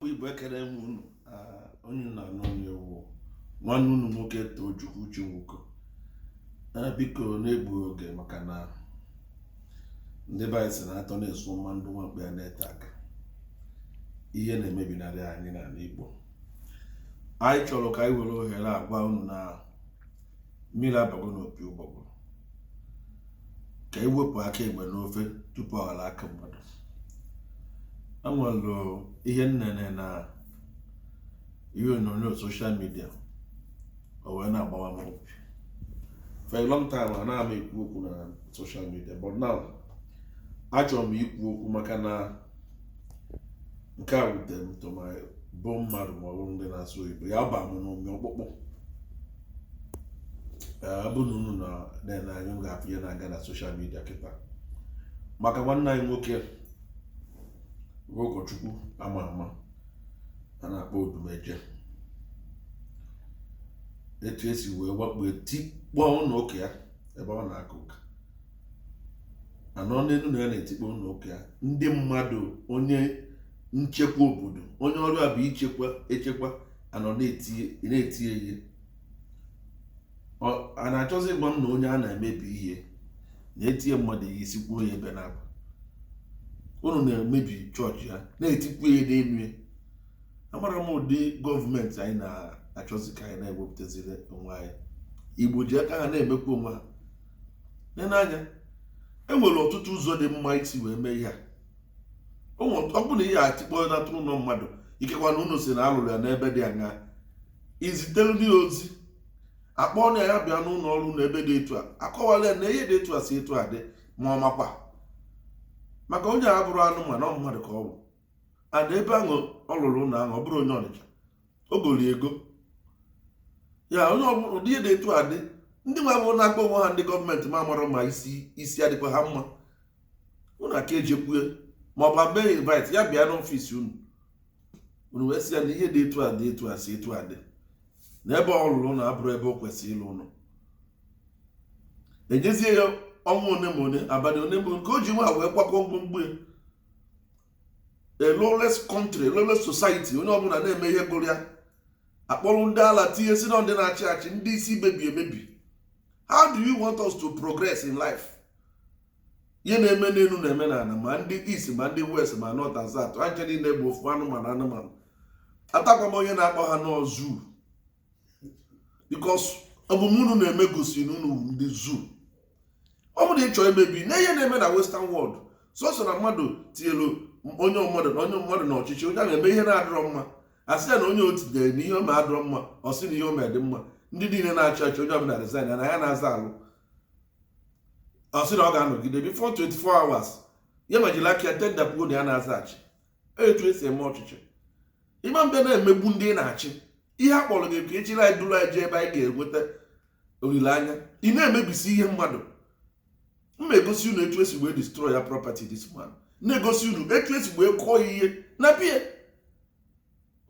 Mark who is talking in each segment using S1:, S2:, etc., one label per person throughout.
S1: igbo ekele m unu onye unu na-anụ onu ya wụ nwanne unu nwoke Tochukwu Chinwuko biko na-egbughị oge maka na ndị be anyị sị na atọ na-esu mma ndụ nwa mkpi ana-ete aka ihe na-emebinarị anyị n'ala Igbo anyị chọrọ ka anyị were ohere a gwa unu na mmiri abago n'opi ụgbọgụrụ ka e wepụ aka enwe n'ofe tupu ọ ghọrọ aka mmadụ e nwere ihe m nene na ihe onyonyo social media o wee na-agbawa m obi for a long time anaghị m ekwu okwu na social media but now achọrọ m ikwu okwu maka na nke a wutere m to my bone marrow ma ọ bụrụ ndị na-asụ oyibo ya ba m n'ụmị ọkpụkpụ ọ bụ na unu na-ene anya unu ga-afụ ihe na-aga na social media kịta maka nwanne anyị nwoke bụ ụkọchukwu ama ama a na-akpọ Odumeje etu e si wee wakpo tikpọọ ụlọ ụka ya ebe ọ na-aka ụka a nọ n'elu na ya na-etikpọ ụlọ ụka ya ndị mmadụ onye nchekwa obodo onye ọrụ ya bụ ichekwa echekwa anọ na-eti ya ihe a na-achọzi ịgwa m na onye a na-emebi ihe na-eti ihe mmadụ ihe isi kwuo ya bụ na unu na-emebi chọọchị ya na-etikwu ya ihe n'elu ya amarọ m ụdị gọọmenti anyị na-achọzi ka anyị na-ewepụtaziri onwe anyị Igbo ji aka ha na-emekwa onwe ha n'anya e nwere ọtụtụ ụzọ dị mma isi wee mee ihe a ọ bụrụ na ị ga-etikpọ natụrụ ụlọ mmadụ ikekwa na unu sị na a lụrụ ya n'ebe dị aṅaa ezitere nụ ya ozi akpọọ nụ ya bịa n'ụlọ ọrụ unu ebe dị etu a akọwara ya na ihe dị etu a si etu a dị ma ọ makwa maka onye a abụrọ anụmanụ ọ mmadụ ka ọ bụ ana ebe ahụ ọ lụrụ ụlọ ahụ ọ bụrọ onye Ọnịcha o goro ego ọ ya bụrụ ụdị ihe dị etu a dị ndị nwa ahụ na-akpọ onwe ha ndị gọọmenti amarọ m ma isi adịkwa ha mma unu aka ejekwu ya ma ọ bụ abịa invite ya bịa n'ọfịs unu unu wee sị ya na ihe dị etu a dị etu a si etu a dị na ebe ọ lụrụ na abụrọ ebe o kwesịrị ịlụ ụlọ enyezie ya ọnwa one na one abalị one na one ka o ji nwa wee kwakọ ngwongwo ya a lawless country lawless society onye ọbụla na-eme ihe gụrụ ya akpọrọ ndị ala tinye sị na ọ ndị na-achị achị ndị isi mebiri emebi how do you want us to progress in life ihe na-eme n'elu na-eme n'ala ma ndị east ma ndị west ma north and south ha ncha niile bụ ofu anụmanụ anụmanụ atakwaghị m onye na-akpọ ha na ọ zoo because omume unu na-eme gosi na unu wụ ndị zoo ọ bụrụ ịchọ emebi na ihe na-eme na western world sọsọ na mmadụ tinyelu onye mmadụ na onye mmadụ na ọchịchị onye a na-eme ihe na-adịrọ mma asị ya na onye o tinyere na ihe ọ na-adịrọ mma ọ sị na ihe ọ na-adị mma ndị niile na-achị achị onye ọbụla resign na ya anazị alụ ọ sị na ọ ga-anọgide before 24 hours ya ma jiri aka ya tender pụọ na ya anazị achị etu esi eme ọchịchị ịma mbe na-emegbu ndị ị na-achị ihe a kpọrọ gị ka ị chịrị anyị duru anyị jee ebe anyị ga-enweta olileanya ị na-emebisi ihe mmadụ m na-egosi unu etu esi wee destroy ya property this man na-egosi unu etu esi wee kụọ ya ihe na be ya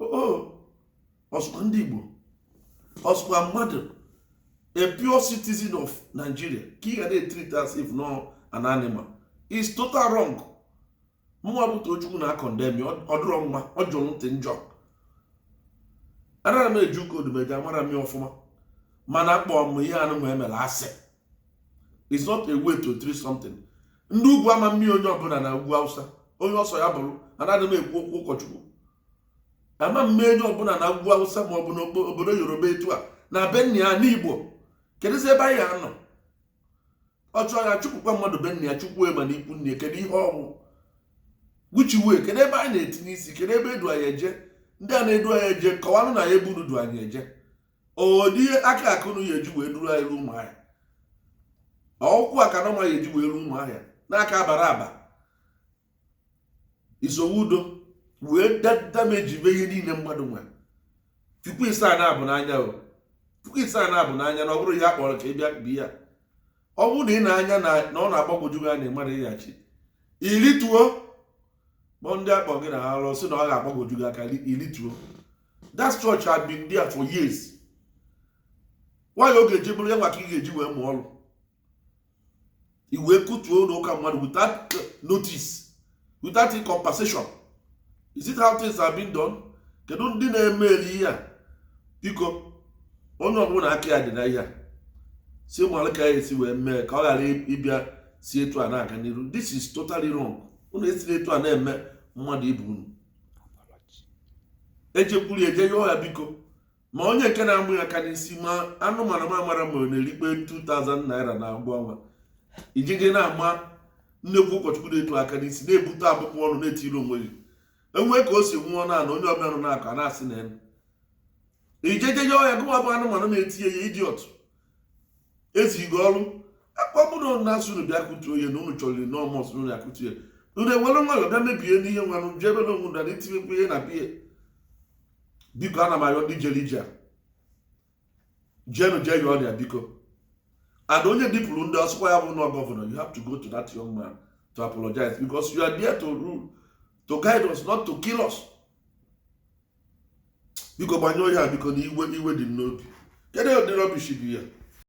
S1: o sokwa ndị Igbo o sokwa mmadụ a pure citizen of Nigeria ka ị ga na-etreat as if na ọ an animal is total wrong mụnwa bụ Tochukwu na-acondemn ọdụrọ mma ọ jọrọ ntị njọ anarọ m eje ụka Odumeje amarọ m ya ọfụma mana akpọ m ihe anụwa emere asị is not a way to treat something ndị ugwu ama mme onye ọbụla na ugwu awụsa onye ọ sọ ya bụrụ anaghị m ekwu okwu ụkọchukwu ama mme onye ọbụla na ugwu awụsa ma ọ bụ n'obodo yoruba etu a na be nna ya n'igbo kedụzi ebe anyị anọ ọ chụọ ya chụpụkwa mmadụ be nna ya chụkwuo ma na ikwu nne kedu ihe ọ wụ which way kedu ebe anyị na-etinye isi kedu ebe edu anyị eje ndị a na-edu anyị eje kọwanụ anyị ebe unu du anyị eje ọ ụdị aka ka unu ya eji wee duru anyị ruo Ụmụahịa ọkwa aka unu ya eji wee ruo Ụmụahịa n'aka abara aba isowe udo wee damage be ihe niile mmadụ nwere tupu ịsa na abụ n'anya o tupu ịsa na abụ n'anya na ọ bụrụ ihe akpọrọ ka ị bịa bi ya ọ bụrụ na ị na-anya na ọ na-agbagwoju gị anya mmadụ ịghachi ilituo kpọọ ndị akpọ gị na alụ sị na ọ ga-agbagwoju gị aka ilituo that church have been there for years why ọ ga-eji bụrụ ya nwa ka ị ga-eji wee mụọ ọrụ ị wee kụtuo ụlọ ụka mmadụ without notice without compensation is it how things are being done kedu ndị na-emeli ihe a biko onye ọbụla aka ya dị na ihe a si mara ka ya esi wee mee ka ọ ghara ịbịa si etu a na-aga n'iru this is totally wrong unu esiri etu a na-eme mmadụ ibe unu ejekwuru eje yọọ ya biko ma onye nke na-ama aka n'isi ma anụmanụ m amarọ ma ọ na-erikwa 2000 naira na agwụ ọnwa ị ji eje na-ama nnekwu ụkọchukwu na-etu aka n'isi na-ebute abụm ọnụ na-etiri onwe gị enwee ka o si nwụọ na ala onye ọbịa nọ na-akọ a na-asị na elu ijejeje ọhịa gụwa bụ anụmanụ na-eti ya idiot ezighị ọrụ aka ọ bụrụ na asị unu bịa kụtuo ya na unu chọrọ na ọ must na unu akụtu ya unu enwere nwayọ bịa mebie n'ihe nwanụ jebe na onwe na itinyekwu ihe na biya biko ana m ayọ ndị jere ije a jenu jee yọọ ya biko and onye dupụrụ ndị ọ sọkwa ya bụrụ gọvanọ you have to go to that young man to apologize because you are there to rule to guide us not to kill us biko gbanyụọ ya biko na iwe iwe dị m n'obi kedu ụdị rubbish bụ ihe a